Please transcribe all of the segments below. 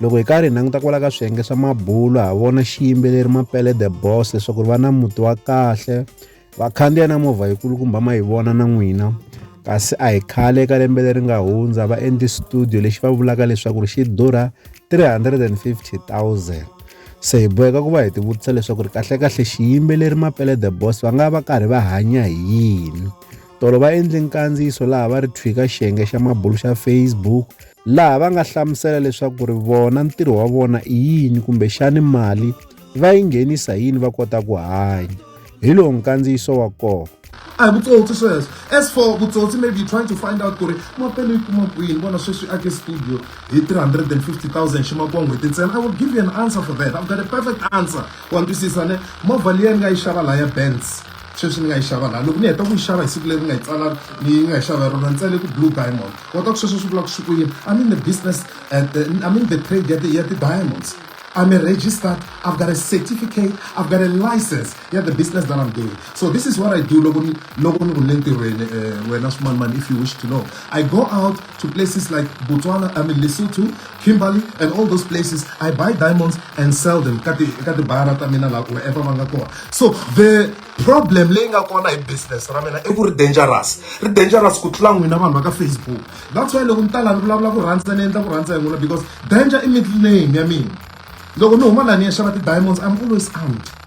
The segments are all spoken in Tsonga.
loko hi karhi hi languta kwala ka swiyenge swa mabulo ha vona xiyimbeleri mapele the boss leswaku ri va na muti wa kahle vakhandziya na movha yikulukumba ma yi vona na n'wina kasi a hi khale eka lembe leri nga hundza va endli studio lexi va vulaka leswaku ri xi durha 350000 se hi boheka ku va hi tivutisa leswaku ri kahlekahle xiyimbeleri mapele the boss va nga va karhi va hanya hi yini Tolo va endle nkandziyiso laha va ri thwika xiyenge xa mabulu xa Facebook laha va nga hlamusela leswaku ri vona ntirho wa vona i yini kumbe xani mali va yi nghenisa yini va kota ku hanya hi lowu nkandziyiso wa kona a hi vutsotsi sweswo as for vutsotsi maybe you trying to find out ku ri mapelo yi kuma kwini vona sweswi ake studio hi 350000 xi makuwa n'hweti ntsena i will give you an answer for that i've got a perfect answer wa ntwisisa ne movha leyi ni nga yi xava laha ya bands sweswi ni nga yi xava laha loko ni heta ku yi xava hi siku leri nga yi tsala ni nga yi xava hi rona ni tsale ku blue diamond kota ku sweswo swi vula ku swi ku yini i mean the business at the, i mean the trade ya ya ti-diamonds I'm a registered, I've got a certificate, I've got a license. Yeah, the business that I'm doing. So this is what I do logo ni logo ni kulenti wena eh, wena small man if you wish to know. I go out to places like Botswana, I mean Lesotho, Kimberley and all those places I buy diamonds and sell them ka ti ka tibara ta mina laha wherever va nga kona so the problem leyi nga kona hi business ra mina i ku ri dangerous ri dangerous ku tlula n'wina vanhu va ka facebook that's why loko ni ta laha ni vulavula ku rhandza ni endla ku rhandza hi n'wina because danger i middle name ya mina loko ni huma laha ni ya xava ti-diamonds i'm always armed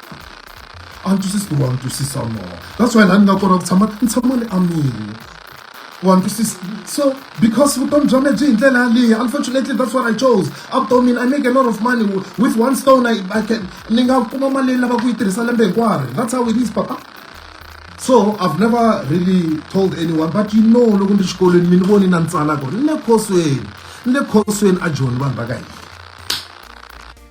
a ni twisisi ku ri wa ni twisisa more that's why laha ni nga kona ku tshama ni tshama ni amile wa ni twisisa so because vutomi bya mina byi hi ndlela yaleyo unfortunately that's what i chose avutomini i make a lot of money with one stone i, I can ni nga kuma mali leyi lava ku yi tirhisa lembe hinkwaro that's how it is papa so i've never really told anyone but you know loko ndi xikolweni mi ni voni na ni tsala ku ri ni le khosweni ni le khosweni a joni vanhu va ka hina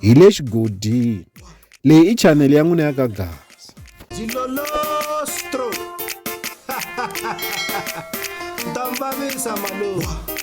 hi le xigodini leyi i chanele ya n'wina ya ka gasa